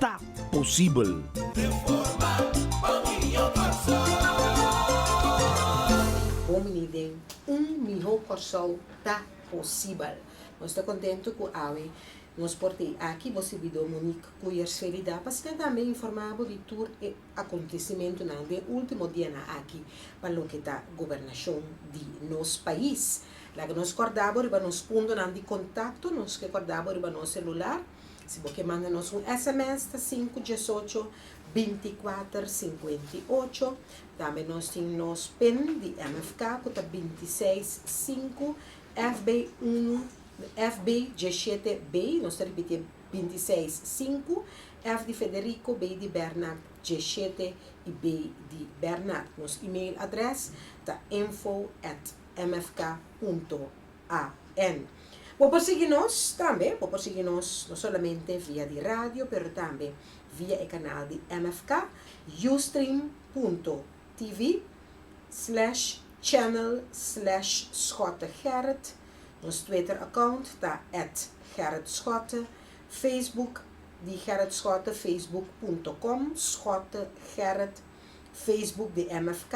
ta posibel. Bon bini den un miho Kòrsou ta posibel. Nos ta kontentu ku awe nos por tei aki bo sirbidó Monique Kuyers Felida pa siga tambe informá bo di tur e akontesimentunan den último dianan aki pa loke ta gobernashon di nos pais. Laga nos kòrda bo riba nos puntonan di kontakto, nos ke kòrda bo riba nos selular. Si bo ke manda nos un sms ta sinku diesocho binticuater sinkuenta i ocho. Tambe nos tin nos pin di MFK ku ta binti seis sinku FB unu FB dieshete B nos ta ripitié binti seis sinku F di Federico B di Bernard dieshete i B di Bernard. Nos email adres ta info at mfk punto. AN. Bo por sigui nos tambe, bo por sigui nos no solamente via di radio pero tambe via e kanal di MFK, Ustream punto TV slash channel slash Schotte Gerrit, nos Twitter account ta at Gerrit Schotte, Facebook di Gerrit Schotte facebook punto com Schotte Gerrit. Facebook di MFK,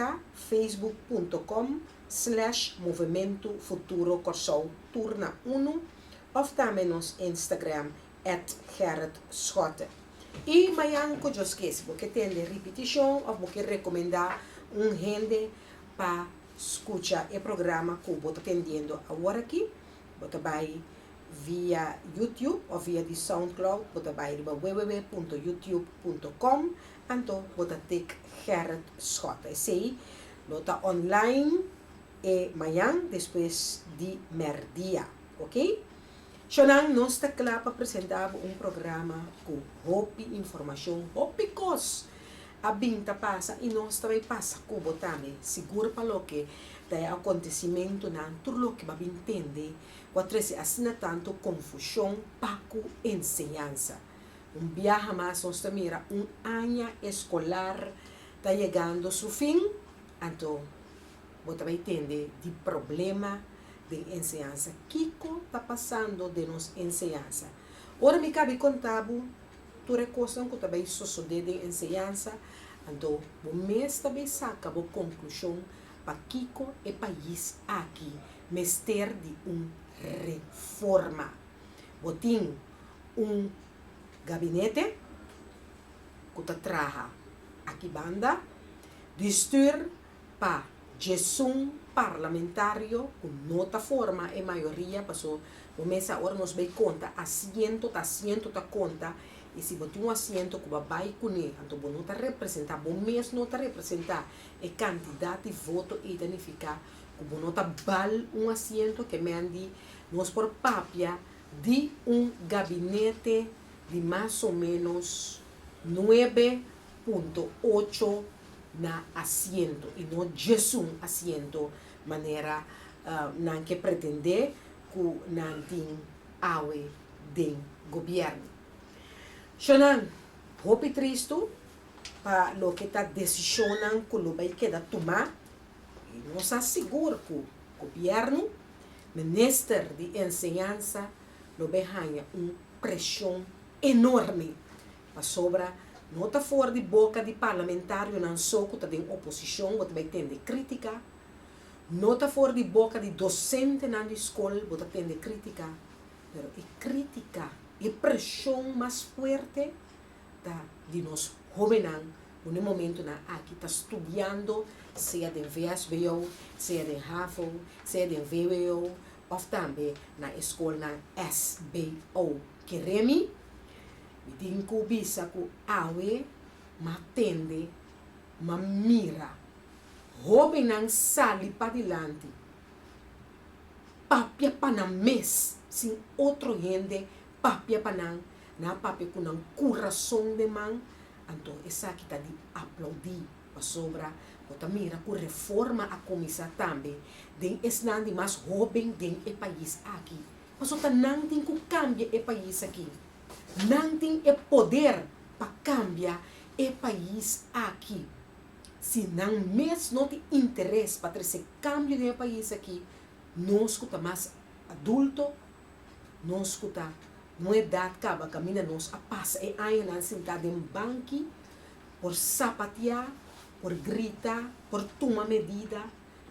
facebook.com, slash Movemento Futuro Kòrsou tur na unu, òf tambe nos Instagram, at Gerrit Schotte. I mañan ku Dios kee si bo ke tende ripitishon òf bo ke rekomendá un hende pa skucha e programa ku bo ta tendiendo awor aki, bo ta bai via YouTube òf via di Soundcloud, bo ta bai riba www.youtube.com. Anto bo ta take Gerrit Schotte esey lo ta online e mañan despues di merdia ok sho nan nos ta kla pa presenta bo un programa ku hopi informashon hopi kos a bin ta pasa i nos ta bai pasa ku bo tambe sigur pa loke ta e akontesimentunan tur loke bo a bin tende ku a trese asina tantu konfushon pa ku enseñansa. Un biaha mas nos ta mira un aña escolar ta yegando su fin, anto bo ta bay tende di problema den enseñansa. Kico ta pasando den nos enseñansa? Ora mi cabi conta bo tur e cosnan cu ta bay sosode den enseñansa, anto bo mes ta bay saca bo conclusion pakico e pais aki mester di un reforma. Bo tin. un gabinete ku ta traha aki banda di stuur pa djesun parlamentario ku no ta forma e mayoria paso bo mesa ora nos bai konta asiento ta asiento ta konta i si bo tin un asiento ku bo a bai kuné anto bo no ta representá bo mes no ta representá e kantidat di voto ei ta nifiká ku bo no ta bal un asiento kemen di nos por papia di un gabinete di mas o menos nuebe punto ocho na asiento i no diesun asiento manera nan ke pretendé ku nan tin awe den gobièrnu. Shornan, hopi tristu pa loke ta desishonnan ku lo bai keda tumá. i nos ta sigur ku gobièrnu, minister di enseñansa lo bin haña un preshon enorme pasobra no ta for di boka di parlamentarionan so ku ta den oposishon bo ta bai tende krítika, no ta for di boka di dosentenan di skol bo ta tende krítika, pero e krítika, e preshon mas fuerte ta di nos hóbennan ku na e momentunan aki ta studiando sea den VSBO, sea den havo, sea den vwo òf tambe na e skolnan SBO. Keré mi? Mi tin ku bisa ku awe m'a tende, m'a mira hóbennan sali padilanti, papia pa nan mes sin otro hende papia pa nan, nan a papia ku nan kurason den man, anto esaki ta di aplaudí, pasobra bo ta mira ku Reforma a kuminsá tambe den esnan di mas hóben den e pais aki, paso ta nan tin ku kambia e pais aki. Nan tin e poder pa kambia e pais aki. Si nan mes no tin interes pa trese kambio den e pais aki, nos ku ta mas adulto Nos ku ta un edat kaba kaminda nos a pasa e añanan sintá den banki por sapatiá, por grita, por tuma medida,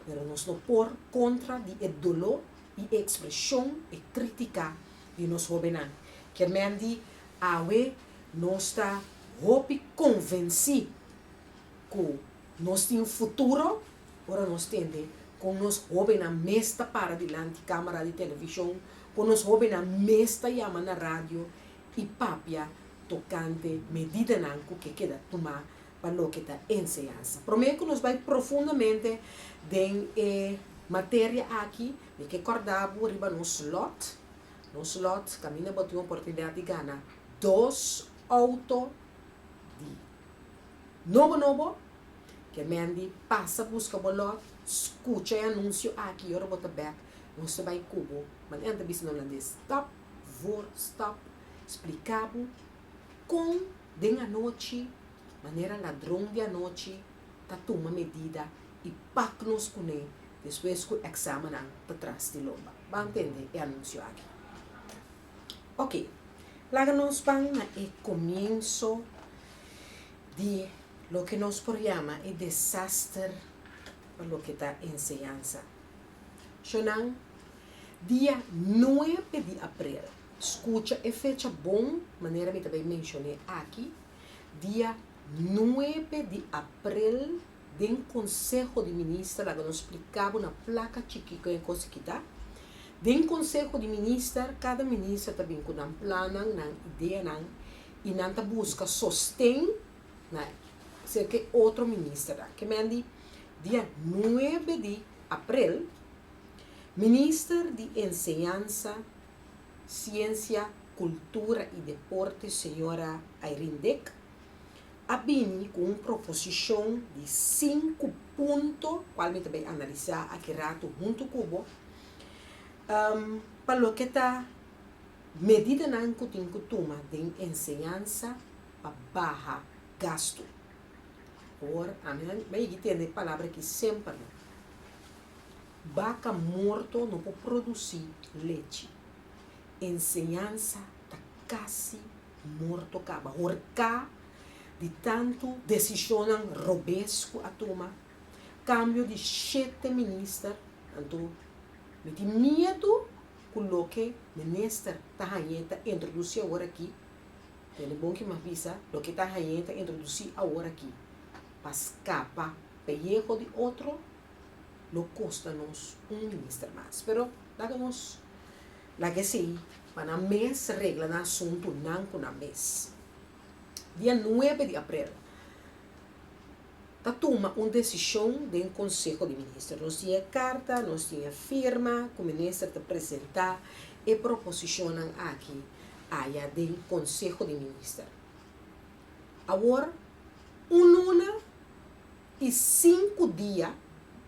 pero nos no por kontra di e doló i e ekspreshon, e kritiká di nos hóbennan. Ke men di awe nos ta hopi konvensí ku. Nos tin futuro ora nos tende kon nos hóbennan mes ta para dilanti kámara di televishon, kon nos hóbennan mes ta yama na radio i papia tokante medidanan ku ke keda tumá pa loke ta enseñansa. Promé ku nos bai profundamente den e materia aki, mi ke kòrdá bo riba nos lòt. Nos lòt kaminda bo tin oportunidat di gana dos outo di. Nobo nobo, ke men di pasa buska bo lòt, skucha e anunsio aki ora bo ta bèk, nos ta bai ku bo. Manera nan ta bisa nan holandés, stòp, p'vor, stòp, spliká bo kon den anochi manera ladron di anochi ta tuma medida i pak nos kuné despues ku èksamennan ta tras di lomba. Bo a ntende e anunsio aki? Ok, laga nos ban na e comienso di loke nos por yama e desaster pa loke ta enseñansa. Shonan, dia nuebe di aprel, scucha e fecha bon manera mi ta bay mencion'e aki, dia nuebe di aprel, Den Konseho di Minister laga nos splika bo na placa chiki con e cos aki ta. Den Konseho di Minister cada Minister ta bin cu nan plannan, nan ideanan y nan ta busca sosten na cerca e otro Ministernan. Ke men di dia nuebe di April Minister di Enseñansa, Ciencia, Cultura y Deporte Señora Irene Dick a bini cu un proposicion di sinku punto, cual mi ta bay analisa aki rato hunto cu bo, pa loke ta medidanan cu tin cu tuma den enseñansa pa baha gasto. Awor, ami a yigi tende e palabra aki semper, baca morto no por produci lechi. Enseñansa ta casi morto caba, horcá di tanto decisionnan robes cu a tuma, cambio di shete minister, anto mi tin miedo cu loke minister ta hañ'é ta introduci awor'akí, den e bon ki mi a bisa, loke ta hañ'é ta introduci awor'akí pa scapa pellejo di otro lo costa nos un minister mas, pero. Laga nos laga esei pa nan mes regla nan asuntu nan ku nan mes. Dia nuebe di aprel ta tuma un desishon den konseho di minister. Nos tin e karta, nos tin e firma ku minister ta presentá e proposishonnan aki aya den konseho di minister. Awor un luna. I sinku dia,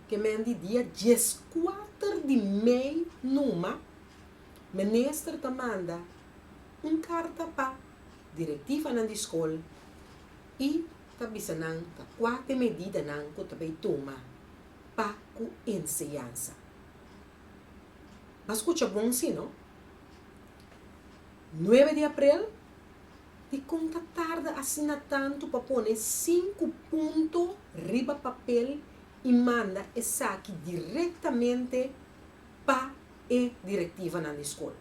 ke men di dia dieskuater di mei numa, minister ta manda un karta pa direktivanan di skol i ta bisa nan ta kua te medidanan ku ta bay tuma pa ku enseñansa. Nan skucha bon si no? Nuebe di aprel Dikon ta tarda asina tantu pa pone sinku punto riba papel i manda esaki direktamente pa e direktivanan di skol?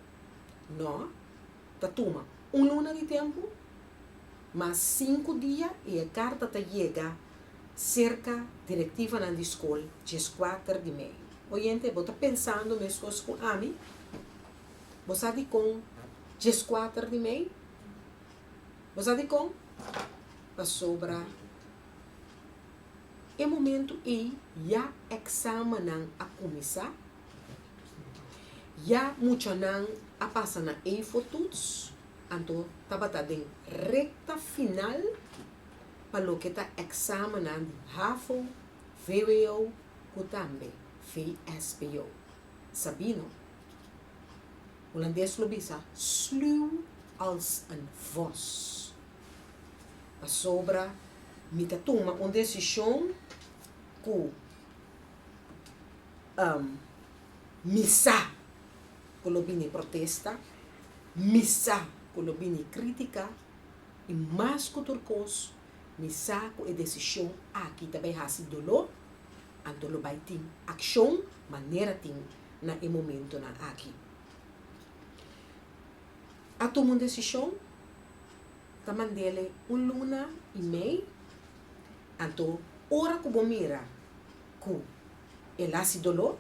Nò, ta tuma un luna di tempu, mas sinku dia i e karta ta yega serka direktivanan di skol djeskuater di mei. Oyente, bo ta pensando meskos ku ami? Bo sa dikon djeskuater di mei? Bo sa dikon? Pasobra e momentu ei ya èksamennan a kuminsá, ya muchanan a pasa na eifo tuts, anto tabata den rekta final pa loke ta èksamennan di hafo, vwo ku tambe vsbo. Sabino, Hulandes lo bisa, sluw als een vos. Pasobra mi ta tuma un desishon ku mi sa ku lo bini protesta, mi sa ku lo bini kritika i mas ku tur kos, Mi sa ku e desishon aki ta bai hasi doló, anto lo bai tin akshon manera tin na e momentunan aki. A tuma un desishon, ta mand'e un luna i mei, anto ora ku bo mira ku el hasi doló,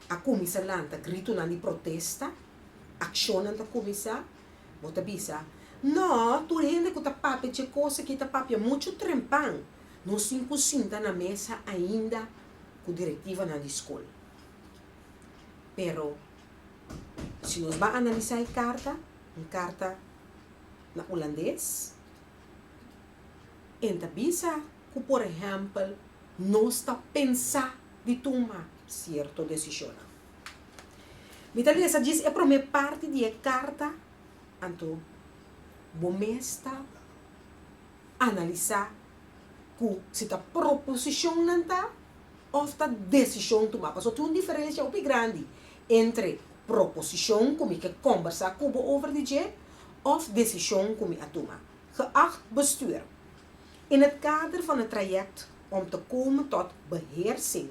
a kuminsá lanta gritunan di protesta, akshonnan ta kuminsá, Bo ta bisa, No, tur hende ku ta papia dje kos aki ta papia muchu trempan. Nos tin ku sinta na mesa ainda ku direktivanan di skol. Pero, si nos bai analisá e karta, un karta na Ulandes, en ta bisa ku por ehèmpel nos ta pensá di tuma sierto desishonnan. Mi ta lesa djis e promé parti di e karta, anto bo mes ta analisá ku si ta proposishonnan ta òf ta desishon tumá. Pasobra tin un diferensha hopi grandi entre proposishon ku mi ke kòmbersá ku bo over di dje òf desishon ku mi a tuma. Geacht bestuur, In het kader van het traject om te komen tot beheersing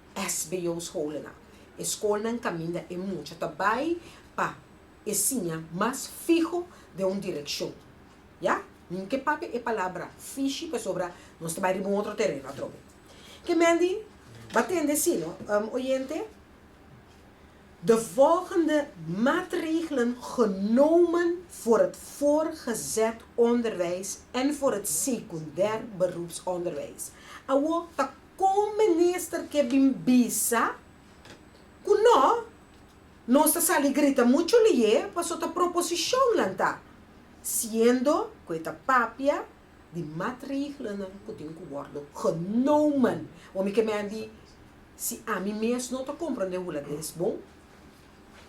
SBO scholennan. E skolnan kaminda e mucha ta bai pa e siña mas fiho den un direkshon. Ya? Min ke papia e palabra fishi pasobra nos ta bai riba un otro tereno atrobe. Ke men di? Ba tende asino, oyente? De volgende maatregelen genomen voor het voorgezet onderwijs en voor het secundair beroepsonderwijs. Awo ta Con un minister ke bin bisa cu no, nos ta sali grita mucho liyé paso ta proposicion nan ta, siendo cu e ta papia di matregelanan cu tin cu wordo genomen. Bo mi ke mi a di, si ami mes no ta comprende hula ta es bon,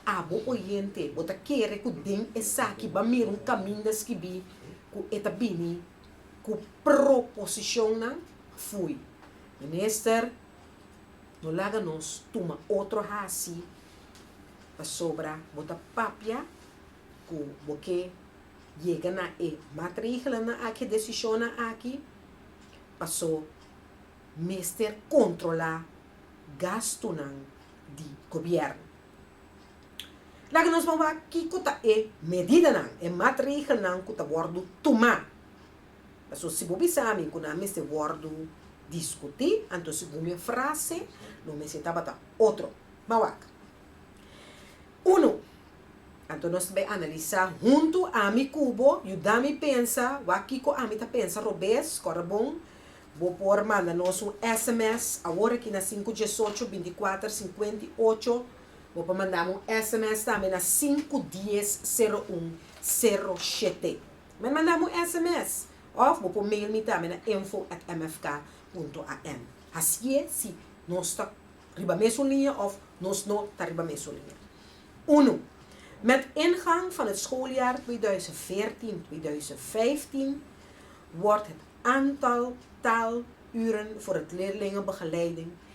abo oyente bo ta kere cu den esaki ba mira un caminda skibi cu e ta bini ku proposishonnan fui, Minister, no laga nos tuma otro hasi pasobra bo ta papia ku bo ke yega na e matrigelnan aki, e desishonnan aki, paso mester kontrolá gastunan di gobièrnu. Laga nos pa wak kiko ta e medidanan, e matregelnan ku ta wòrdu tumá. Pasobra si bo bisa mi ku nan mester wòrdu diskutí, anto segun mi frase lo mester tabata otro. Ban wak. Unu, anto nos ta bai analisá huntu, ami ku bo, yuda mi pensa, wak kiko ami ta pensa robes, kòrda bon. Bo por manda nos un sms awor aki na sinku diesocho binti kuater sinkuenta i ocho Bo por manda mi un sms tambe na sinku dies sero un sero shete. Mei manda mi un sms. Of bo por mail mi tambe na info at mfk punto am. Hasié si nos ta riba mesun liña of nos no ta riba mesun liña. Unu, Met ingang van het schooljaar tweeduizend veertien, tweeduizend vijftien wordt het aantal taal uren voor het leerlingenbegeleiding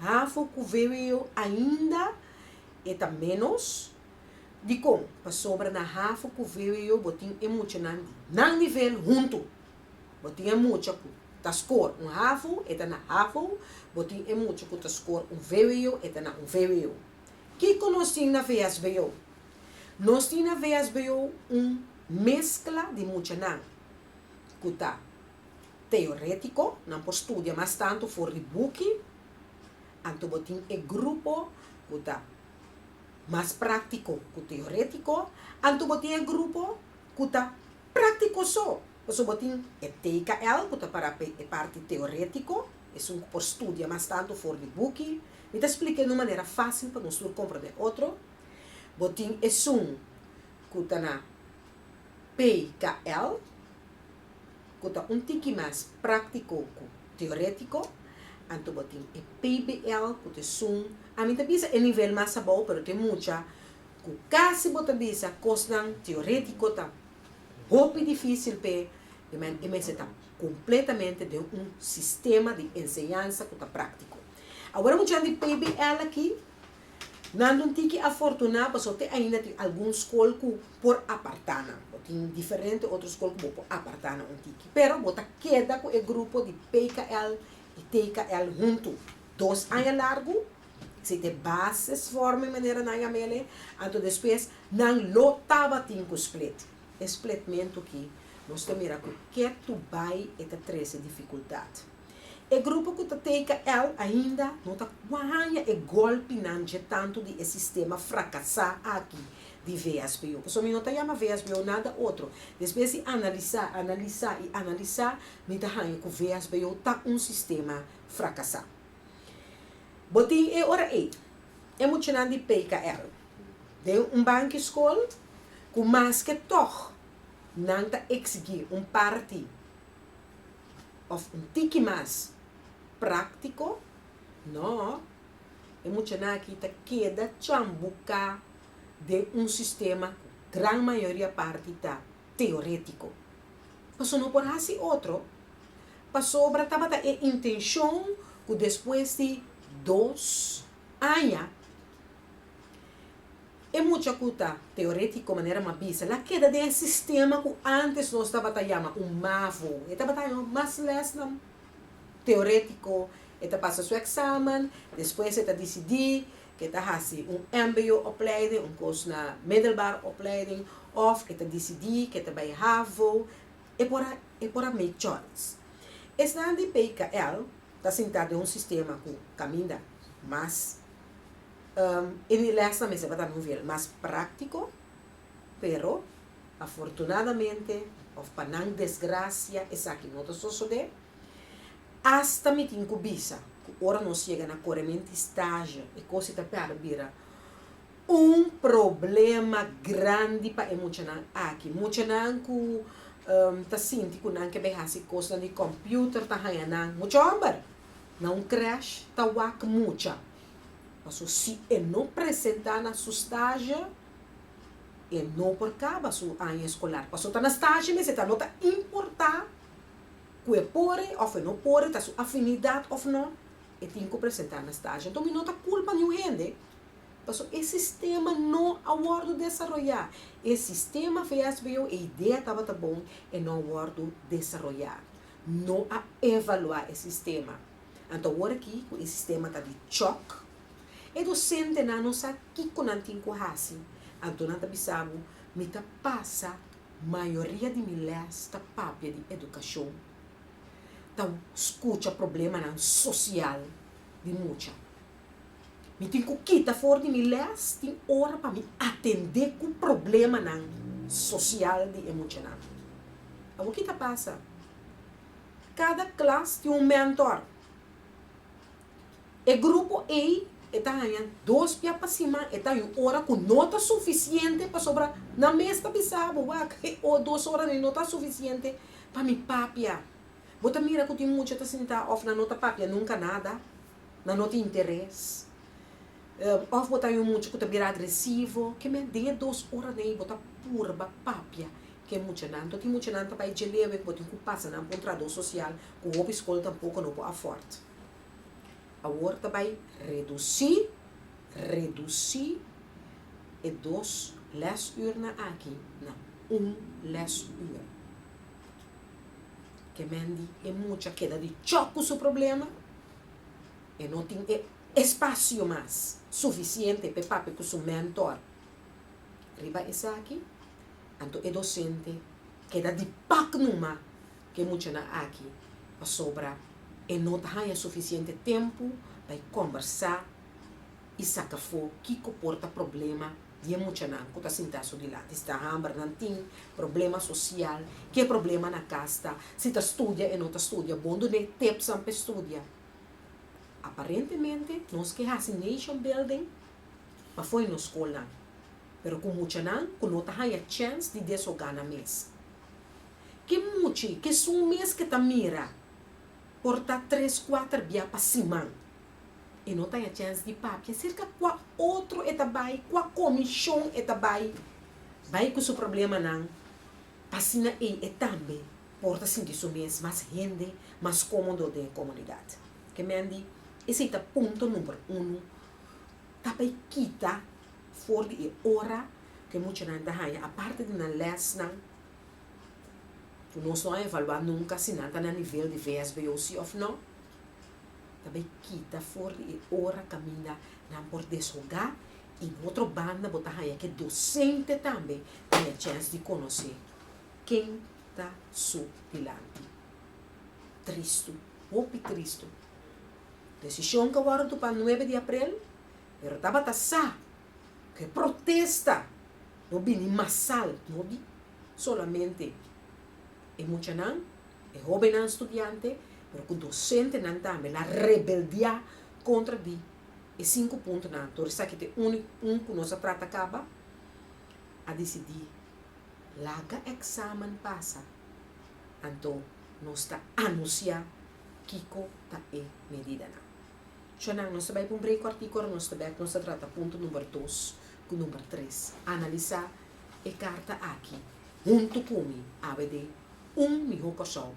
Hafo ku VWO ainda e ta ménos? Dikon? Pasobra na Hafo ku VWO bo tin e muchanan di nan nivel huntu. Bo tin e mucha ku ta skor un Hafo, e ta na Hafo, bo tin e mucha ku ta skor un VWO, e ta na un VWO. Kiko nos tin na VSBO? Nos tin na VSBO un meskla di muchanan ku ta. teorétiko, nan por studia mas tantu for di buki, anto bo tin e grupo ku ta mas práktiko ku teorétiko, anto bo tin e grupo ku ta práktiko so. Pasobra bo tin e TKL ku ta pará pa e parti teorétiko, esun ku por studia mas tantu for di buki. Mi ta splika e na un manera fásil pa nos tur komprondé otro. Bo tin esun ku ta na PKL. ku ta un tiki mas práktiko ku teorétiko, anto bo tin e PBL ku ta esun, ami ta bisa e nivel mas abou pero tin mucha ku kasi bo ta bisa kosnan teorétiko ta hopi difísil p'e di manera e mester ta kompletamente den un sistema di enseñansa ku ta práktiko. Awor e muchanan di PBL aki Nan lo tiki afortuná pasobra te ainda tin algun skol ku por apartá nan. Bo tin diferente otro skol ku bo por apartá nan un tiki. Pero bo ta keda ku e grupo di PKL i TKL huntu dos aña largu, si te bases fòrmen manera nan yama elei, anto despues nan lo tabatin ku split. E splitmentu ki nos ta mira ku ke tu bai e ta trese difikultat. E grupo ku ta teka el ainda no ta kuaña e gòlpinan dje tantu di e sistema frakasá aki di VSBO. Pasobra mi no ta yama VSBO nada otro. Despues di analisá, analisá i analisá, mi ta haña ku VSBO ta un sistema frakasá. Bo tin e ora ei e muchanan di PKL den un banki skol ku maske tòg nan ta eksigí un parti. òf un tiki mas práktiko? Nò. E muchanan akí ta keda tjambuká den un sistema ku gran mayoria parti ta teorétiko. Pasobra no por hasi otro. Pasobra tabata e intenshon ku despues di dos aña, E mucha ku ta teorétiko manera m'a bisa, la keda den e sistema ku ántes nos tabata yama un mavo. E tabata haya mas lèsnan teorétiko, e ta pasa su eksamen, despues e ta disidí ku e ta hasi un mbo-opleiding, un kos na middelbare opleiding, òf e ta disidí ku e ta bai havo. E por a e por a make choice. Esnan di PKL ta sintá den un sistema ku kaminda mas. E di lèsnan mester tabata un nivel mas práktiko, pero afortunadamente òf pa nan desgrasia esaki no ta sosodé. Asta mi tin ku bisa ku ora nos yega na koreminti stazio e kos ei ta pèrdè bira un problema grandi pa e muchanan aki. Muchanan ku ta sinti ku nan ke bai hasi kosnan di kòmpiuter ta haña nan. Mucha hòmber na un krèsh ta wak mucha. Paso si e no presenta na su stage, e no por caba su aña escolar. Paso ta na stage mes e ta no ta importa cu e por e of e no por e, ta su afinidad of no, e tin cu presenta na stage. Enton mi no ta culpa niun hende, paso e sistema no a wordo desaroya. E sistema VSBO e idea tabata bon e no a wordo desaroya. No a evalua e sistema. Anto awor aki cu e sistema ta di chòk, e docentenan no sa kico nan tin cu haci. Anto nan ta bisa bo, mi ta pasa mayoria di mi les ta papia di educacion, ta scucha problemanan social di mucha. Mi tin cu kita for di mi les, tin ora pa mi atende cu problemanan social di e muchanan. Awor ki ta pasa? Kada klas tin un mèntòr. E grupo ei e ta haña dos bia pa siman, e ta yu ora ku no ta sufisiente pasobra nan mes ta bisa bo, Wak, e o dos ora dei no ta sufisiente pa mi papia. Bo ta mira ku tin mucha ta sintá òf nan no ta papia nunka nada, nan no tin interes. Òf bo ta yu mucha ku ta bira agresivo, kemey den e dos ora dei bo ta purba papia ku e muchanan. Toti muchanan ta bai djelewe ku bo tin ku pasa nan pa un trahadó sosial ku hopi skol tampoko no por afòrt. Awor ta bai redusí, redusí e dos lèsùrnan aki na un lèsùr. Kemendi e mucha keda dichòp ku su problema, e no tin e espasio mas sufisiente pa e papia ku su mèntor. Riba esaki, anto e dosente keda di pak numa ku e muchanan aki pasobra e no ta haña sufisiente tempu pa e kòmbersá i saka afó kiko por ta problema di e muchanan ku ta sintá su dilanti, si ta hambra nan tin, problema sosial, ke problema na kas ta, si ta studia e no ta studia bon done tepsnan pa e studia. Aparentemente nos ke hasi nation building pafo'i nos skolnan, pero ku muchanan ku no ta haña chèns di deshoga nan mes. Ke muchi kesun mes ke ta mira por ta tres kuater bia pa siman, e no ta haña chèns di papia serka kua otro e ta bai, kua komishon e ta bai, bai ku su problemanan, asina ei e tambe por ta sinti su mes mas hende, mas komodo den e komunidat. Ke men di, esei ta punto number uno ta pa e kita for di e ora ku e muchanan ta haña aparte di nan lèsnan, ku nos no a evaluá nunka si nan ta na nivel di VSBO si òf nò, ta bai kita for di e ora kaminda nan por deshogá i bo otro banda bo ta haña ke dosente tambe haña chèns di konosé. ken ta su dilanti. Tristu, hopi tristu. Desishon ke wòrdu tupá nuebe di aprel, pero tabata sa ku e protesta lo bini masal, no di solamente e muchanan, e hóbennan studiante, pero ku dosentenan tambe la rebeldiá kontra di e sinku puntonan. Dor esaki ta e úniku un ku nos a trata kaba, a disidí. Laga examen pasa, anto nos ta anuncia kico ta e medidanan. Cho nan, nos ta bay pa un break cortico, ora nos ta bek nos ta trata punto number dos cu number tres. Analisa e carta aki hunto cu mi, abd un miho persona.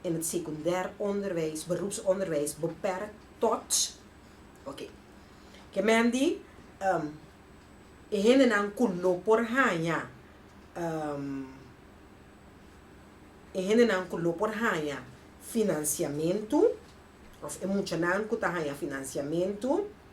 in het secundair onderwijs, beroepsonderwijs, beperkt tot Oké. Ke men di e hendenan ku lo por haña e hendenan ku lo por haña finansiamentu òf e muchanan ku ta haña finansiamentu.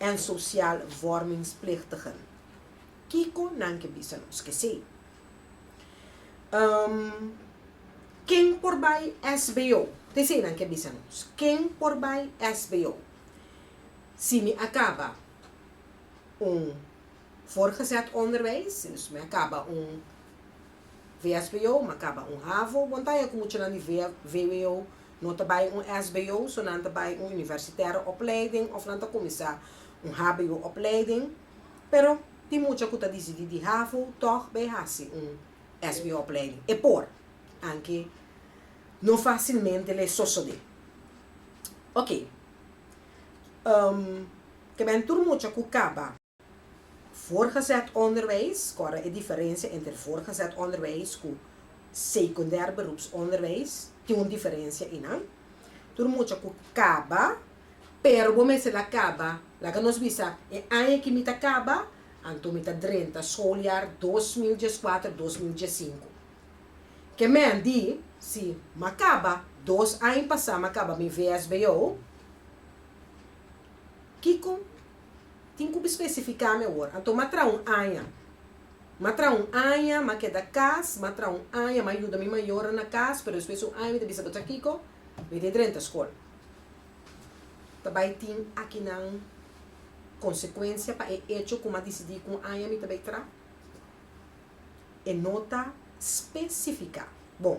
en sosial vormingsplichtigen. Kiko nan ke bisa nos ke sí? Um Ken por bai SBO? Te eseinan ke bisa nos. Ken por bai SBO? Si mi a kaba un voorgezet onderwijs, dus mi a kaba un. VSBO, ma kaba un havo, bo nta ya ku muchanan di VWO no ta bai un SBO, so nan ta bai un universitaire opleiding of nan ta kuminsá un hbo opleiding, pero tin mucha ku ta disidí di havo tòg bai hasi un SBO opleiding. E por, anke no fásilmente lei sosodé. Oke, ke ben tur mucha ku kaba. Voortgezet onderwijs, Kòrda e diferensia entre voortgezet onderwijs ku sekundèr beroepsonderwijs, tin un diferensia i nan. Tur mucha ku kaba, pero bo mester la kaba, laga nos bisa e aña ki mi ta kaba, anto mi ta drenta skooljaar dos mil dieskuater, dos mil diesinku. Ke men di, Si m'a kaba, dos aña pasá m'a kaba mi VSBO, Kiko? Tin ku bspesifiká mi awor. Anto m'a traha un aña. M'a traha un aña, m'a keda kas, m'a traha un aña, m'a yuda mi mayornan na kas, pero despues di un aña mi ta bisa bo tra kiko? Mi tin drenta skol. Ta bai tin akinan konsekuensia pa e echo ku m'a disidí ku un aña mi ta bai traha? E no ta spesifiká. Bon.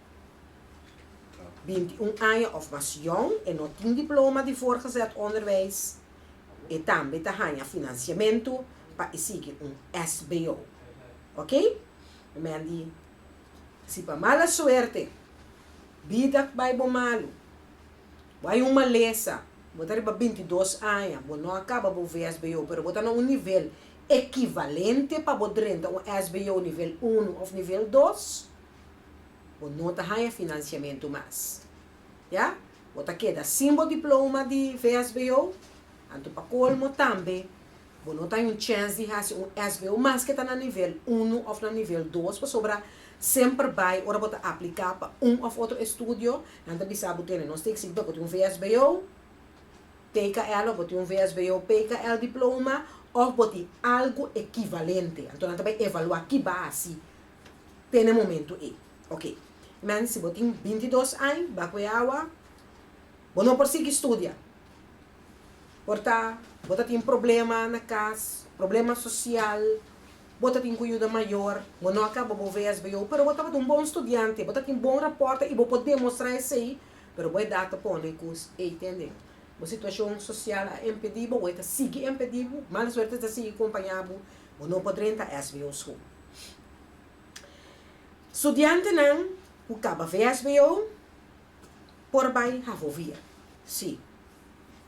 binti i un aña òf mas yòn, e no tin diploma di voorgezet onderwijs, e tambe ta haña finansiamentu pa e sigui un SBO. Ok? E men di, Si pa mala suerte bida bai bo malu, bo a yu un malesa, bo ta riba binti dos aña, bo no a kaba bo VSBO pero bo ta na un nivel ekivalente pa bo drenta un SBO nivel unu òf nivel dos, Bo no ta haña finansiamentu mas. Ya? Bo ta keda sin bo diploma di VSBO, anto pa kolmo tambe bo no ta haña un chèns di hasi un SBO maske ta na nivel unu òf na nivel dos pasobra semper bai ora bo ta apliká pa un òf otro estudio nan ta bisa bo tene nos teken sikiba bo tin un VSBO, PKL òf bo tin un VSBO, PKL diploma òf bo tin algu ekivalente. Anto nan ta bai evaluá ki base. te na momentu ei. Ok. Mens, si bo tin binti dos aña, ba kue awa, bo no por sigui studia. Por ta bo ta tin problema na kas, problema sosial, bo ta tin ku yuda mayor, bo no a kaba bo vsbo, pero bo tabata un bon studiante, bo ta tin bon rapòrtnan i bo por demostrá esei, pero bo edat a pone ku ei te nden. Bo situashon sosial a impedí bo o e ta sigui impedí bo, mala suerte ta sigui kompañá bo, bo no por drenta sbo School. Studiantenan ku kaba VSBO por bai Hahovia, si.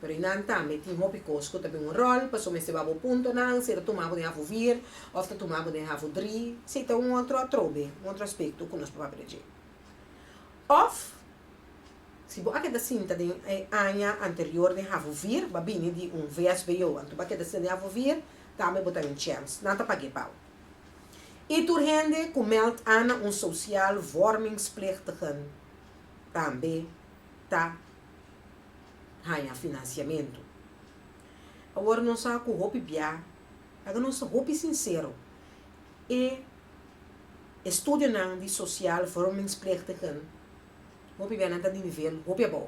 Pero eynan tambe tin hopi kos ku ta bin un ròl, pasobra mester wak bo puntonan, si e ta tumá bo den Havo Vier òf ta tumá bo den Havo Dri, si ta un otro atrobe, un otro aspekto ku nos por papia di dje. Òf, si bo a keda sinta den e aña anterior den Havo Vier, bo a bini di un VSBO, anto bo a keda sinta den Havo Vier, tambe bo ta den chèns, nan ta pag'é pa bo. I tur hende ku mèld a na un sosial vòrmingsplegtigen tambe ta haña finansiamentu. Awor nos sa ku hopi bia, laga nos ta hopi sinsero, e estudionan di sosial vòrmingsplegtigen hopi bia nan ta di nivel hopi abou.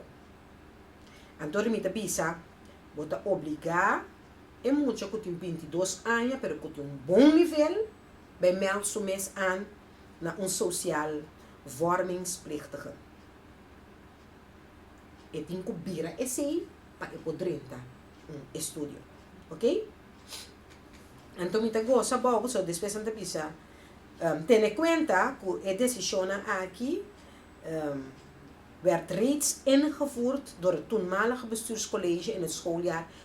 Anto mi ta bisa bo ta obligá E mucha ku tin bintidos aña pero ku tin un bon nivel bai mèld su mes aan na un sosial vòrmingsplichtige. E tin ku bira esei pa e por drenta un estudio. Ok? Anto mi ta gosa abou pasobra despues nan ta bisa, tene kuenta ku e desishonnan aki wèrd reeds ingevoerd door het toenmalige bestuurscollege in het schooljaar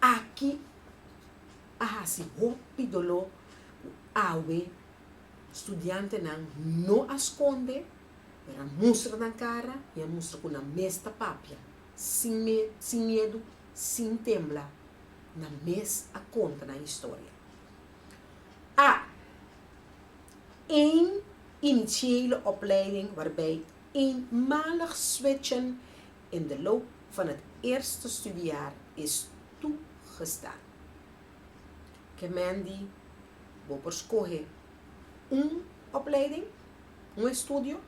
Aki a hasi hopi doló ku awe studiantenan no a skonde, pero a mustra nan kara i a mustra ku nan mes ta papia. Sin me, sin miedu, sin tembla, nan mes a konta nan historia. A Eén initiële opleiding waarbij eenmalig switchen In de loop van het eerste studiejaar is toegestaan. Kemendi bo por skohe un opleiding, un estudio,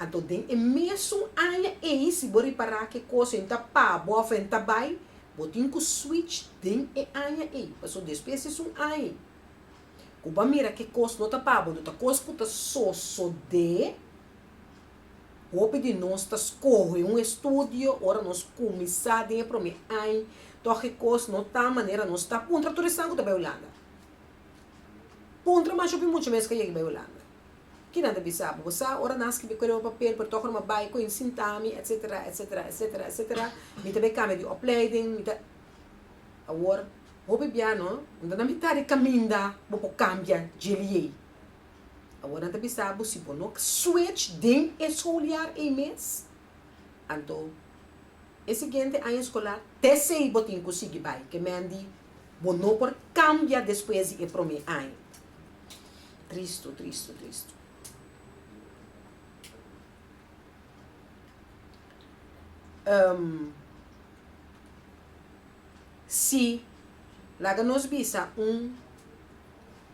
anto den e mesun aña ei si bo ripara ke kos en ta pa bo of en ta bai, bo tin ku switch den e aña ei. Paso despues di esun aña ku bo a mira ke kos no ta pa bo, do ta kos ku ta sosode. Hopi di nos ta skohe un estudio ora nos kuminsá den e promé añ, tògke kos no ta manera nos ta. Puntra tur esnan ku ta bai Hulanda. Puntra mas hopi mucha mes ka yega bai Hulanda. Kinan ta bisa bo? Bo sa ora nan skirbi kwel oba papel pero tògora mi bai koin sinta mi etsetera, etsetera, etsetera, etsetera, mi ta bai kambia di opleiding, mi ta. Awor, hopi bia no, nan ta na mitad di kaminda bo por kambia dje liey. Awor nan ta bisa bo si bo no switch den e souljaar ei mes, anto e siguiente aña escolar tesei bo tin cu sigui bai, ke men di bo no por cambia despues di e prome aña. Tristo, tristo, tristo. Um, si, laga nos bisa un.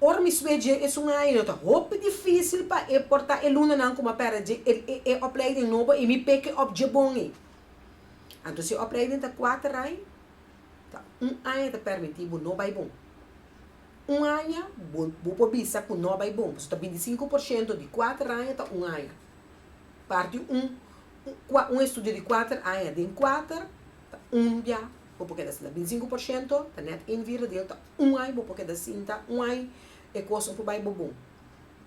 Ora mi studia dje esun aña ta hopi difícil pa e por ta e lundanan ku mi a pèrdè dje e opleiding nobo i mi pek'e òf dje bon ei. Anto si e opleiding ta kuater aña, ta un aña ta permití bo no bai bon. Un aña bo bo por bisa ku no bai bon pasobra ta binti sinku por shento di kuater aña ta un aña. Parti un un estudio di kuater aña den kuater ta un bia bo por keda asina. Binti sinku por shento ta nèt ein vierdedero ta Un ai bo por keda sinta, un ai e kos no por bai bo bon.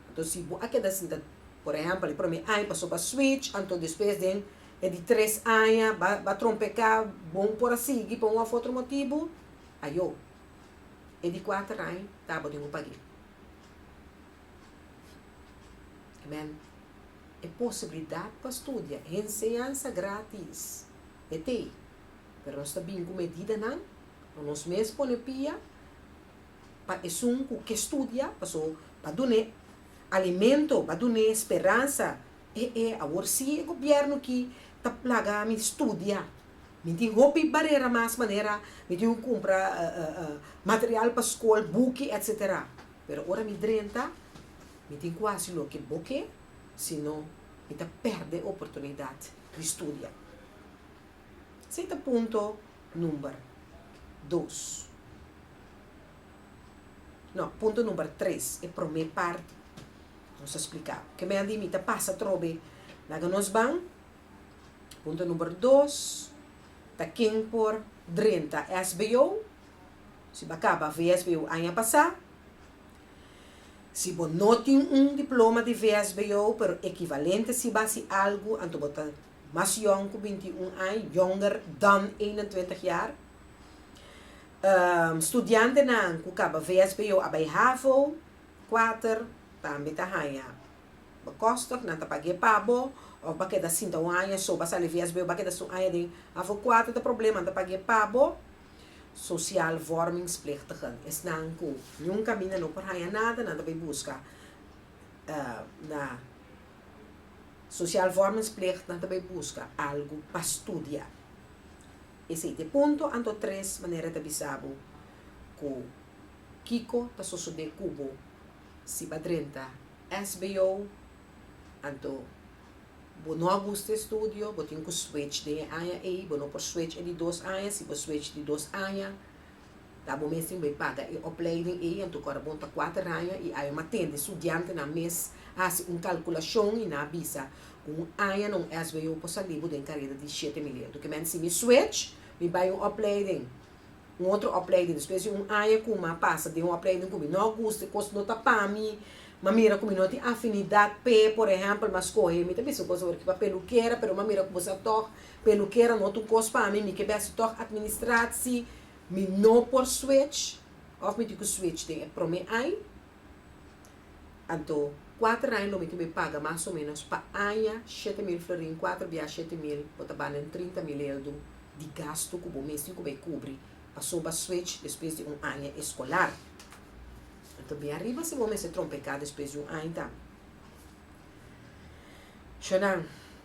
Anto si bo a keda sinta, por ehèmpel e promé aña pasó pa switch, anto despues den e di tres aña ba ba trompeká, bo no por a sigui pa un òf otro motibu, ayo e di kuater aña ta bo den un pagé. Amen. E posibilidat pa studia, e enseñansa grátis, e t'ei, pero nos ta bini ku medidanan Lo nos mes pone pia pa esun cu ke studia, paso ba dun'e alimento, ba dun'e speransa. E e awor si e gobierno ki ta plaga mi studia. Mi tin hopi barera mas manera mi tin cu cumpra material pa scol, buki, etcetera. Pero ora mi drenta, mi tin cu haci loke bo ke, si no mi ta perde oportunidad di studia. Esey ta punto. number dos. No, punto number tres, e prome parti nos a spliká. Ke men a di mi ta pasa trobe. Laga nos ban. Punto number dos ta ken por drenta SBO. Si bo a kaba VSBO aña pasá. Si bo no tin un diploma di VSBO pero ekivalente si bo a hasi algu anto bo ta mas yong cu binti i un aña, jonger dan eenentwintig jaar. Studiantenan cu caba vsbo a bay havo, kuater, tambe ta haña bekostig, nan ta pag'é pa bo, of ba keda sinta un aña so ba sali vsbo, ba keda su aña den havo kuater ta problema, nan ta pag'é pa bo. Social vormingsplichtigen, esnan cu ningún caminda no por haña nada, nan ta bay busca na. Sociaal Vormingsplicht nan ta bai buska algu pa studia. Esei ta e punto anto tres manera ta bisa bo ku kiko ta sosodé ku bo si ba drenta sbo anto bo no a gusta e studio bo tin ku switch den e aña ei bo no por switch e di dos aña si bo switch di dos aña Ta bo mes tin bay paga e opleiding ey anto cu ora bo ta cuater aña y awe ma tende studiantenan mes haci un calculacion y nan a bisa cu un aña na un SVO por sali bo den careda di shete mil euro. Kimen ta si mi switch, mi bay un opleiding, un otro opleiding, despues di un aña cu mi a pasa den un opleiding cu mi no a gusta, e cos no ta pa mi, mi a mira cu mi no tin afinidad p'e, por ehempel mi a scoge, mi ta bisa boso ora ki pa pelukera pero mi a mira cu boso a tog Pelukera no ta un kos pa mi, mi ke bèst tòg administrad si mi no por switch òf mi tin ku switch den e promé añ. Anto kuater añ lo mi tin be paga mas o ménos pa aña shete mil florin, kuater biaha shete mil, bo ta banda den trinta mil eldu di gastu ku bo mes tin ku bai kubri paso b'a switch despues di un aña eskolar. Anto biaha riba si bo mester trompeká despues di un añ tambe. Shonan.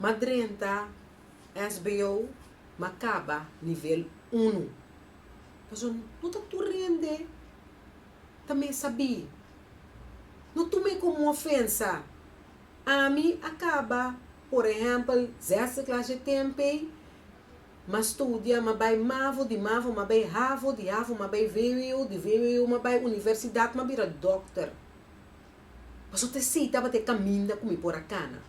ma drenta SBO ma kaba nivel unu. Pasobra no ta tur hende ta mesa bi. No tume komo ofensa. Ami a kaba, por ehèmpel, zesde klas dje tenpei, m'a studia, m'a bai mavo, di mavo m'a bai havo, di havo m'a bai vwo, di vwo m'a bai universidat, m'a bira dòkter. Paso te si tabata e caminda cu mi por a cana.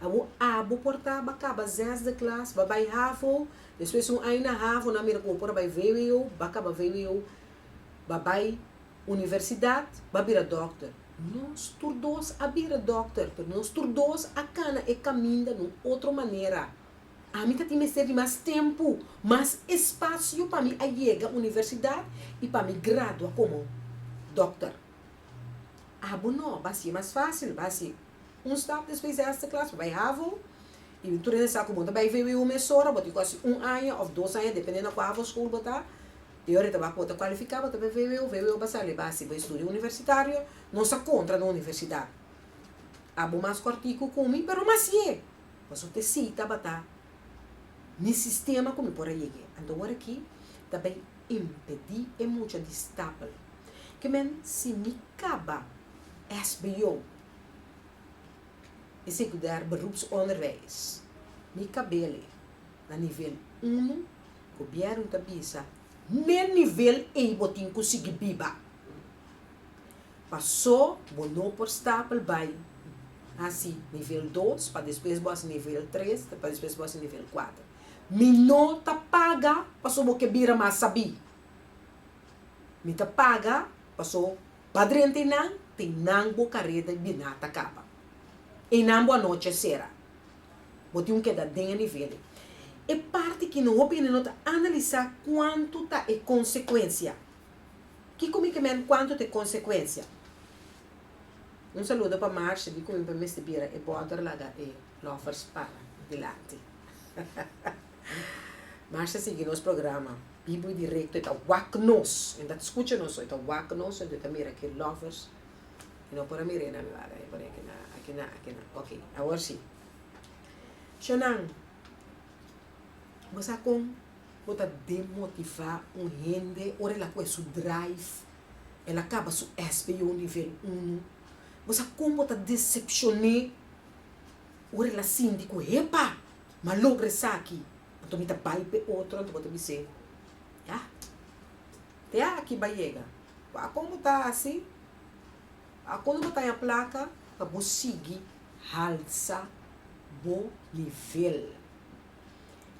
Abo abo por ta ba caba zesde klas, ba bay havo, despues un aña na havo nan mira cu bo por a bay vwo, ba caba vwo, ba bay universidad, ba bira dokter. Nos tur dos a bira dokter, pero nos tur dos a cana e caminda na un otro manera. Ami ta tin mester di mas tempo, mas espacio pa mi a yega universidad y pa mi gradua como dokter. Abo no, basi e mas fásil, basi. Un stap despues di hèsti klas bo bai havo, i tur hende sa ku bo ta bai vwu mesora, bo tin kòse un aña òf dos aña depende na ku havo skul bo ta, i ora ta wak ku bo ta kualifiká bo ta bai vwu, vwu a basal e base bo estudio universitario, no sa kontra na universidat. Abo mas kòrtiku ku mi, pero mas siye, pasobra bo ta sita ba ta mi sistema ku mi por a yeg'é. Anto ora aki ta bai impedí e mucha di stapel. Ke men si mi kaba sbo e sekunder beroepsonderwijs, mi kabele na nivel unu, gobièrnu ta bisa, N'e nivel ei bo tin ku sigui biba. Pasó bo no por stapel bai hasi nivel dos pa despues bo hasi nivel tres pa despues bo hasi nivel kuater. Mi no ta paga paso bo ke bira mas sabí. Mi ta paga paso pa drenta e nan te nan bo kareda biná ta kaba. E nan bo anochi a sera. Bo tin ku keda den e nivel ei. E parti ki no hopi hende no ta analisá kuantu ta e konsekuensia. Kiko mi ke mende kuantu ta e konsekuensia? Un saludo pa Marcia di ku mi mester bira e bòder laga e. Lovers pa dilanti. Marsha sigui nos programa. Bibo y directo e ta wak nos e ta scucha nos e ta wak nos e ta mira aki lovers y no por a mira nan lado e pone aki nan aki nan aki nan ok awor si cho nan bo sa con bo ta demotiva un hende ora el a cu e su drive el a caba su sbo nivel uno bo sa con bo ta decepcione un relasin di ku hepa ma logra esaki anto mi ta bai p'e otro anto bo ta bis'é ya te aki bai yega wak kon bo ta hasi wak kon bo ta haña plaka pa bo sigui halsa bo nivel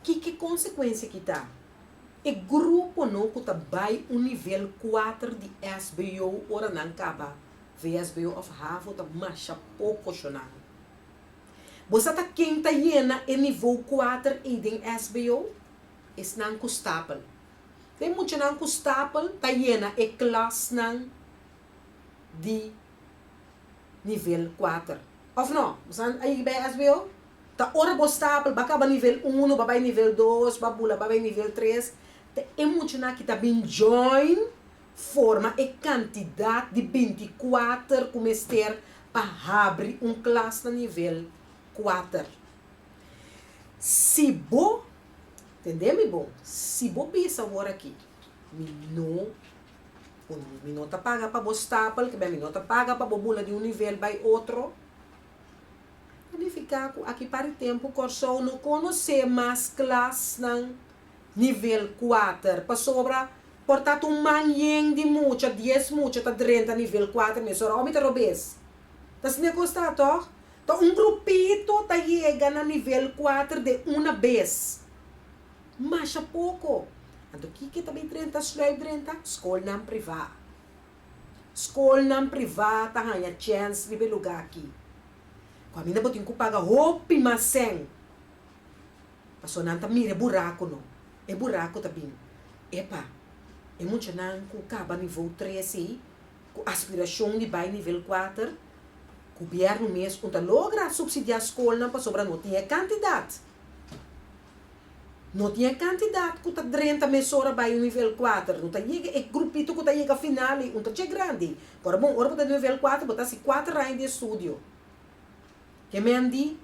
kiko konsekuensia ki ta e gruponan ku ta bai un nivel kuater di SBO ora nan kaba. VSBO of havo ta masha poko shonan. Bo sa ta ken ta yena e nivou kuater ei den SBO? Esnan ku stapel. Ku e muchanan ku stapel ta yena e klasnan di nivel kuater. Of no? Bo sa a yega bai SBO? Ta ora bo stapel, ba kaba nivel uno, ba bai nivel dos, ba bula ba bai nivel tres, ta e muchanan aki ta bin join Forma e kantidat di bintikuater ku mester pa habri un klas na nivel kuater. Si bo, tende mi bon, si bo bisa awor aki, mi no kun, mi no ta paga pa bo stapel, kibia mi no ta paga pa bo bula di un nivel bai otro, ta nifiká ku aki para e tempu Kòrsou no konosé mas klasnan. Nivel kuater. Pasobra por tabata un man yen di mucha, dies mucha ta drenta nivel kuater mes ora. Omi ta rob'e es. Ta sne kos ta, tòg? Ta un grupito ta yega na nivel kuater de una bes. Masha poko. Anto kiko e ta bay drenta? Sluip drenta? Skolnan privá. Skolnan privá ta haña chèns riba e lugá akí. Kaminda bo tin ku paga hopi mas sèn. Pasobra nan ta mira e burakunan, e buraku ta bini. Epa, e muchanan ku kaba nivou tres ei, ku aspirashon di bai nivel kuater, gubièrnu mes un ta logra supsidiá skolnan pasobra no tin e kantidat. No tin e kantidat ku ta drenta mesora bai un nivel kuater. No ta yega e grupito ku ta yega final ei, un ta tjei grandi. Kòrda bon, ora bo ta nivel kuater, bo ta hasi kuater aña di estudio. Hemen di,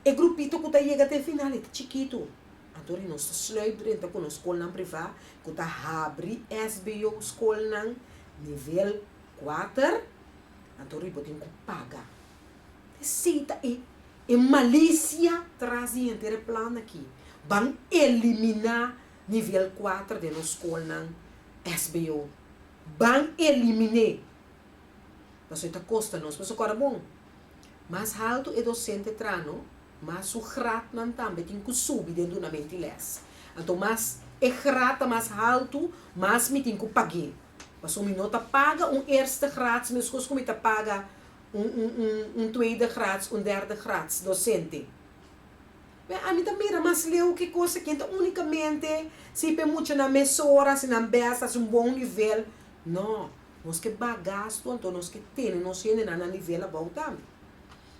e grupito ku ta yega te final e ta chikitu. Anto ri nos ta sluit renta ku nos skolnan privá ku ta habri SBO skolnan nivel kuater, anto ri bo tin ku paga. Te si ta e e malisia tras di henter e plan aki ban eliminá nivel kuater den nos skolnan SBO. Ban eliminé! Pasobra e ta kosta nos. Pasobra kòrda bon, mas haltu e dosente tra no, mas su gratnan tambe tin ku subi den duna mentiles. Anto mas e grat ta mas haltu, mas mi tin ku pag'é. Pasobra mi no ta paga un eerste grats meskos ku mi ta paga un tweede grats, un derde grats dosente. P'e ami ta mira mas leu ki kosa ken ta únikamente si p'e muchanan mesora, si nan bèsta, si un bon nivel. Nò. Nos ke bak gastu, anto nos ke tene nos hendenan na nivel abou tambe.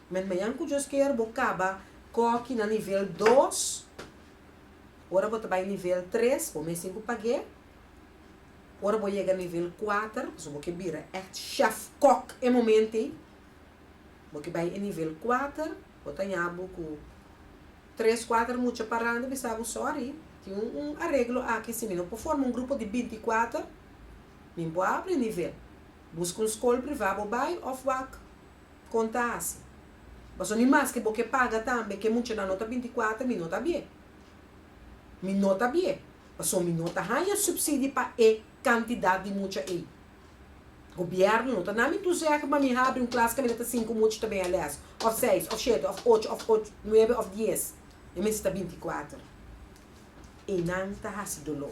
Met mañan ku Dios kier bo kaba koki na nivel dos, ora bo ta bai nivel tres bo mes tin ku pag'é, ora bo yega nivel kuater, pasobra bo ke bira ègt chèf, kòk, e momento ei, bo ke bai e nivel kuater, bo ta haña bo ku tres, kuater mucha parandi, bisa bo sòri tin un areglo aki si mi no por forma un grupo di binti kuater. Mi bo a abri nivel. Busca un scol priva bo bay of wak con ta haci. Pasobra mi mas que bo ke paga tambe ke muchanan no ta binti cuater mi no ta bie. Mi no ta bie. Pasobra mi no ta haya subsidi pa e cantidad di mucha ey. Gobierno no ta na mi toezegd ma mi ha abri un klas ke mester cinco mucha ta bea les. Of seis of shete of ocho of ocho nuebe of dies. Mi mester ta binti cuater. Eynan ta haci dolo.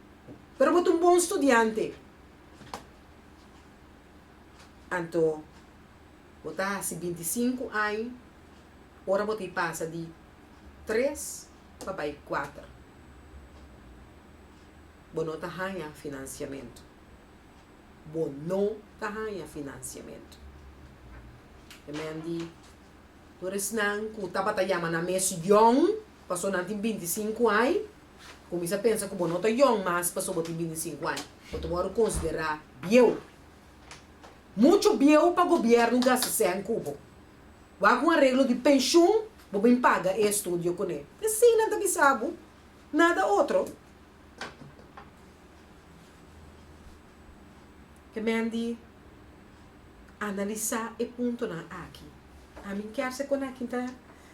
Pero bo ta un bon studiante. Anto bo ta hasi binti sinku aña ora bo ta e pasa di tres pa bai kuater. Bo no ta haña finansiamentu. Bo no ta haña finansiamentu. E men di tur esnan ku tabata yama nan mes yòn, pasobra nan tin binti sinku aña, Kuminsá pensa ku bo no ta yòn mas pasobra bo tin bintisinku aña. Bo ta wòrdu konsiderá bieu. Muchu bieu pa gobièrnu gasta sèn ku bo. Wak un areglo di penshun bo bin paga e estudio kuné. E sin nan ta bisa bo, nada otro. Ke men di analisá e puntonan aki. Ami kier se konekta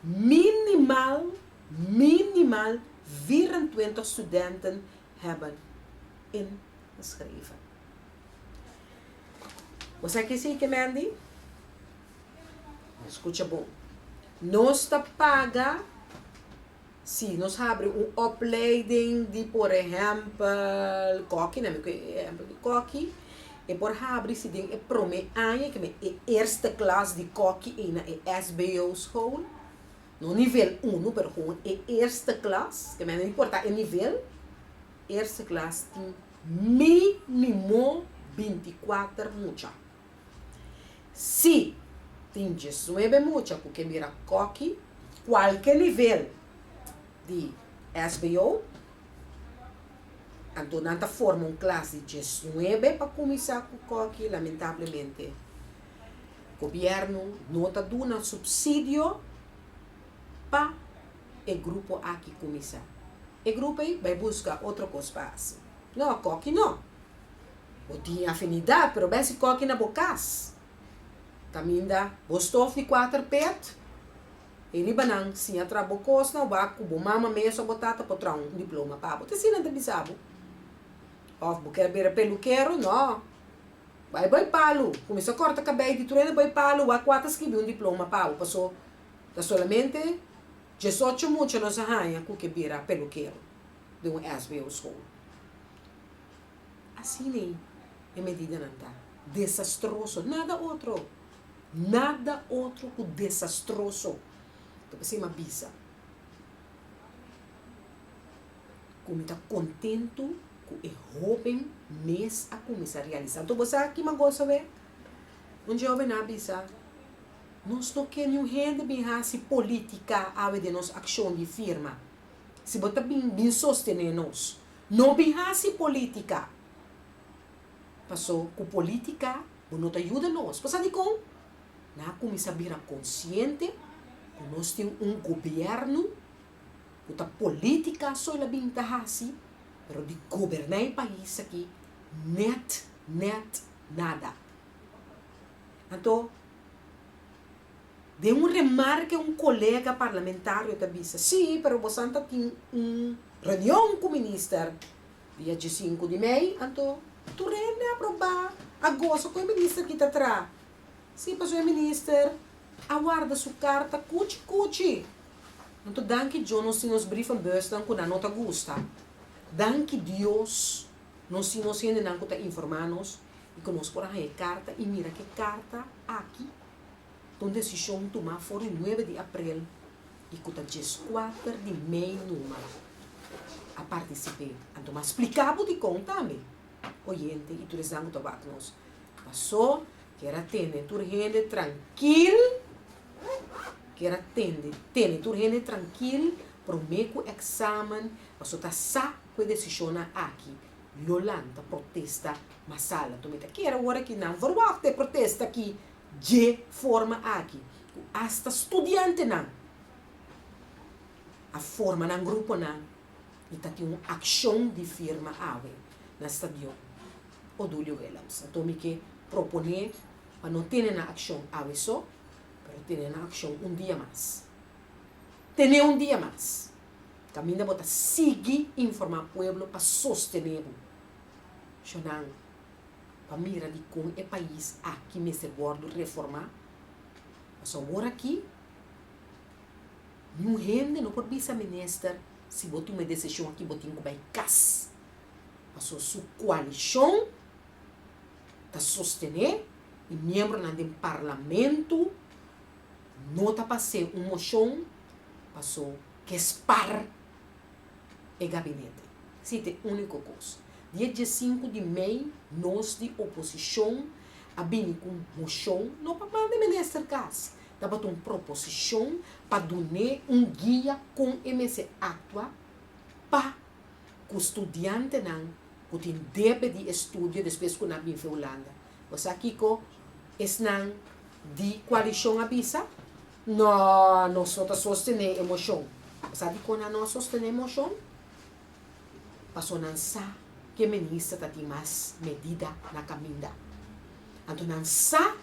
Minimal minimal vierentwintig studenten hebben ingeschreven. Bo sa ki si ke men di? Escucha bon. Nos ta paga Sí, nos habri un opleiding di por ehèmpel kòki, nan mi kue e ehèmpel di kòki. E por habri si den e promé aña ke mi e eerste klas di kòki ei na e SBO school, no nivel uno pero gewoon e eerste klas, ke mi a no importá e nivel, eerste klas tin minimo binti kuater mucha. Sí, tin diesnuebe mucha cu ke mira koki cualke nivel di SBO, anto nan ta forma un klas di diesnuebe pa cuminsa cu koki. Lamentablemente Gobierno no ta duna subsidio pa e grupo aki cuminsa. E grupo ey bai busca otro cos pa haci. No, koki no. Bo tin e afinidat, pero bes si koki na bo kas. Kaminda bo stof di kuater pet, e ribanan siña tra bo kosnan, wak ku bo mama mes òf bo tata por traha un diploma pa bo. Te asina nan ta bisa bo. Òf bo kier bira pelukero, nò, bai bai palu, kuminsá kòrta kabei di truene bai palu, wak ku a ta skibi un diploma pa bo. Paso, ta solamente diesocho mucha nos a haña ku ke bira pelukero den un SBO skol. Asina ei e medidanan ta. Desastroso, nada otro, nada otro ku desastroso ta p'esei m'a bisa ku mi ta kontentu ku e hóben mes a kuminsá realisá. Anto bo sa kiman goso e? Un jòvennan a bisa, Nos no ke niun hende bin hasi polítika awe den nos akshon di firma. Si bo ta bin, bin sostené nos. No bin hasi politica paso cu politica bo no ta yuda nos. Pasa di con? N'a cuminsa bira consciente cu nos tin un gobierno cu ta politica so el a bin ta hasi pero di goberna e pais aki net net nada. Anto den un remarke un colega parlamentario ta bisa si pero bosan ta tin un. Reunion cu Minister dia diesinku di mei, anto tur hende a proba a gosa cu e Minister kita tra. Si, pasobra e Minister a warda su carta cuchi cuchi. Anto danki Djo nos tin nos brievenbusnan cu nan no ta gusta. Danki Dios nos tin nos hendenan cu ta informa nos y cu nos por a haya e carta y mira cu e carta aki ta un decision tuma for di nuebe di aprel. y cu ta diescuater di mei numer a participe. Anto m'a splica bo dicon tambe, oyente y tur esnan cu ta waak nos. Paso, kier a tende tur hende trankil, kier a tende, tene tur hende trankil prome cu examen, paso ta sa cu e decisionnan aki lo lanta protesta masala. Tuma e ta kier awor aki nan verwacht e protesta aki Dje forma aki ku asta studiantenan a forma nan gruponan i ta tin un akshon di firma awe na stadion Odulio Willems. Anto mi ke proponé pa no tene nan akshon awe so, pero tene nan akshon un dia mas. Tene un dia mas. Kaminda bo ta sigui informá pueblo pa sostené bo. Shonan. pa mira di kon e pais aki mester wordu reformá. Pasobra awor aki niun hende no por bisa minister si bo tuma e desishon aki bo tin ku bai kas. Pasobra su koalishon ta sostené i miembronan den parlamentu no ta pas'é un moshon pasobra ke spar. e gabinete. Si ta e úniko kos. Di e diesinku di mei nos di oposishon a bini ku un moshon, no pa manda e minister kas, tabata un proposishon pa dun'é un guia kon e mester aktua pa ku studiantenan ku tin debe di e studio despues ku nan a bin fe Hulanda. Bo sa kiko esnan di koalishon a bisa? No, nos no ta sostené emoshon. Bo sa dikon a no sostené emoshon? Pasobra nan sa ku e minister ta tin mas medida na kaminda. Anto nan sa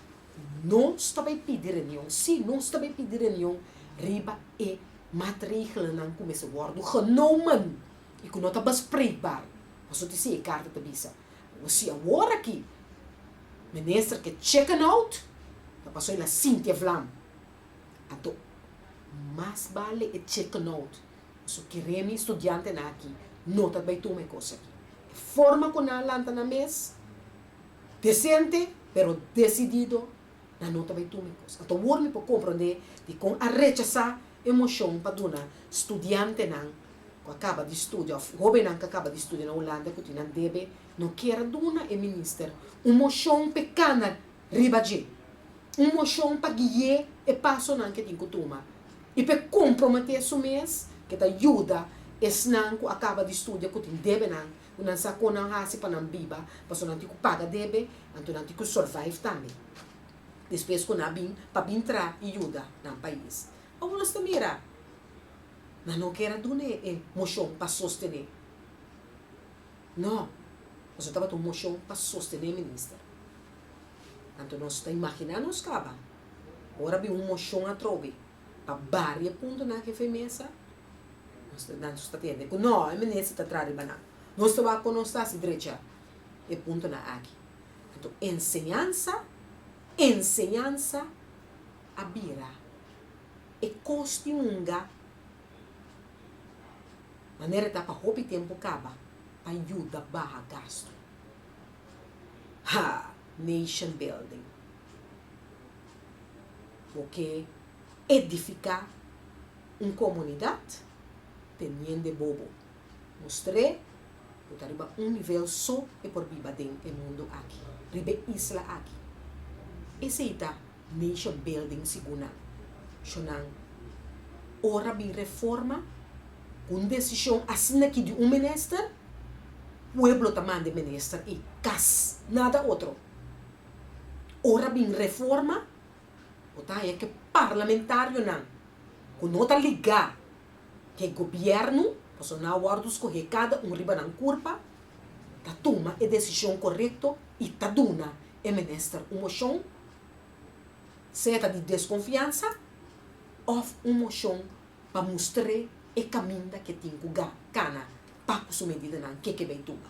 nos ta bai pidi reunion. Sí, nos ta bai pidi reunion riba e matregelnan ku mester wòrdu genomen i ku no ta bespreekbaar, pasobra si e karta ta bisa. Bo si awor aki, minister ke chicken out, ta pasoy la Cynthia Vlam. Anto, mas bale e chicken out, su kere mi studiantenan aki no ta bai tuma e kos aki. E forma ku nan a lanta nan mes, desente pero desidido nan no ta bay tuma e cos. Ato wor mi por comprende di con a rechasa e mocion pa duna studiantenan cu a caba di studia of hobennan cu a caba di studia na Hulanda cu tin nan debe, no kier a duna e minister un mocion p'e cana riba dje, un mocion pa guie e pasonan cu tin cu tuma y p'e compromete su mes cu ta yuda esnan cu a caba di studia cu tin debenan ku nan sa kon nan hasi pa nan biba, paso nan tin ku paga debe, anto nan tin ku survive tambe despues ku nan a bin pa bin traha i yuda nan pais. Awo nos ta mira, nan no ker a duna e moshon pa sostené, no, paso tabata un moshon pa sostené minister. Anto nos ta imaginá nos kaba, ora a bin un moshon atrobe, pa barie punto nan hefe mesa nan ta tende ku no e mene si ta tra riba nan nos ta wak ku nos ta hasi drecha e punto nan aki enton enseñansa enseñansa a bira e kos di hunga manera ta pa hopi tempu kaba pa yuda baha gastu haa nation building. bo ke edifiká un komunidat teniende bobo mustr'é bo ta riba un nivel so e por biba den e mundu aki, riba e isla aki. Esei ta nation building sigun nan. Shon nan ora bin reforma ku un desishon asina ki di un minister, pueblo ta manda e minister ei kas, nada otro. Ora bin reforma, bo ta haña ku e parlamentarionan ku no ta ligá ku e gobièrnu, pasobra nan a wòrdu skohé kada un riba nan kurpa, ta tuma e desishon korekto i ta duna e minister un moshon, sea ta di deskonfiansa òf un moshon pa mustr'é e kaminda ke tin ku kana pa ku su medidanan ke ke bai tuma.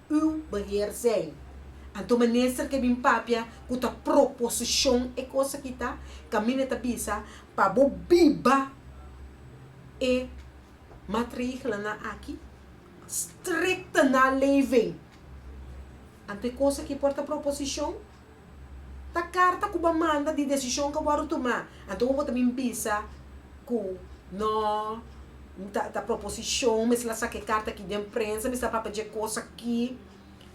u beheer zij. Anto minister ke bin papia ku ta proposishon e kos aki ta, Camine ta bisa pa bo biba e matrigelnan aki strikte na lei ven. Anto e kos aki por ta proposishon? Ta karta ku bo a manda di desishon ku bo a wòrdu tumá. Anto bo ta bin bisa ku no mi ta ta proposishon mester la saka e karta aki den prensa, mester la papia dje kos aki.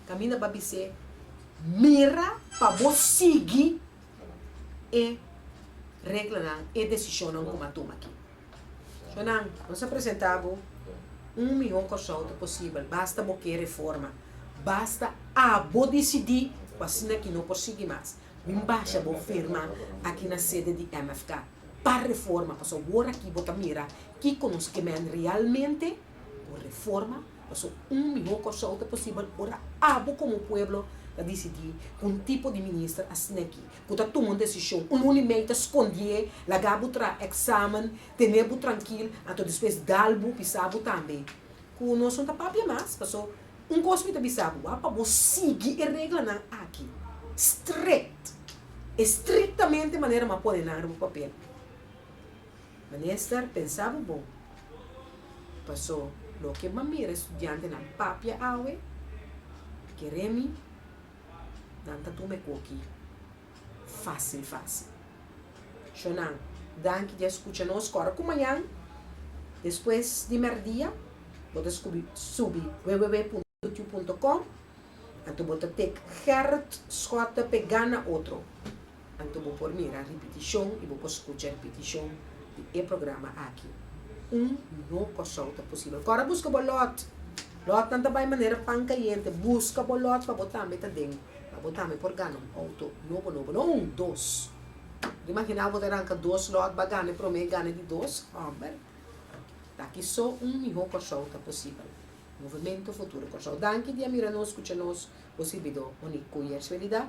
Kaminda bo a bis'é, Mira pa bo sigui e reglanan, e desishonnan ku mi a tuma aki. So nan, nos a presentá bo un mihó kòrsouto posibel, basta bo ke reforma. Basta abo disidí ku asina ki no por sigui mas. Bin basha bo firma aki na sede di MFK pa reforma, paso awor aki bo ta mira kiko nos ke mende realmente por reforma, paso un mihó kòrsouto posibel ora abo komo pueblo ta disidí ku un tipo di minister asina ki. ku ta tuma un desishon. Un luni mei ta skondié, laga bu tra eksamen, tene bu trankil, anto despues dal bu bisa bu tambe ku nos no ta papia mas. Paso, un kos mi ta bisa bo, a pa bo sigui e reglanan aki strikt, estriktamente manera mi a pone nan riba papel. Minister, pensa bo bon, paso loke mi a mira e studiantenan papia awe, kere mi. Nan ta tuma e koki fásil fásil. Shonán, danki di a skucha nos kòrda ku mañan despues di merdia bo ta skubi subi www.youtube.com anto bo ta take Gerrit Schotte pe gana otro. Anto bo por mira ripitishon i bo por skucha ripitishon di e programa aki. Un no kosou ta posibel. Kòrda buska bo lòt. Lòtnan ta bai manera pan kayente. Buska bo lòt pa bo tambe ta den. Pa bo tambe por gana un outo nobo nobo. No un, dos. Bo imaginá bo ta ranka dos lòt ba gana e promé gana di dos? Hòmber. Taki so un mihó kosou ta posibel. Movemento Futuro Kòrsou. Danki di a mira nos, skucha nos, bo sirbidó Onick Kuyers. Felidá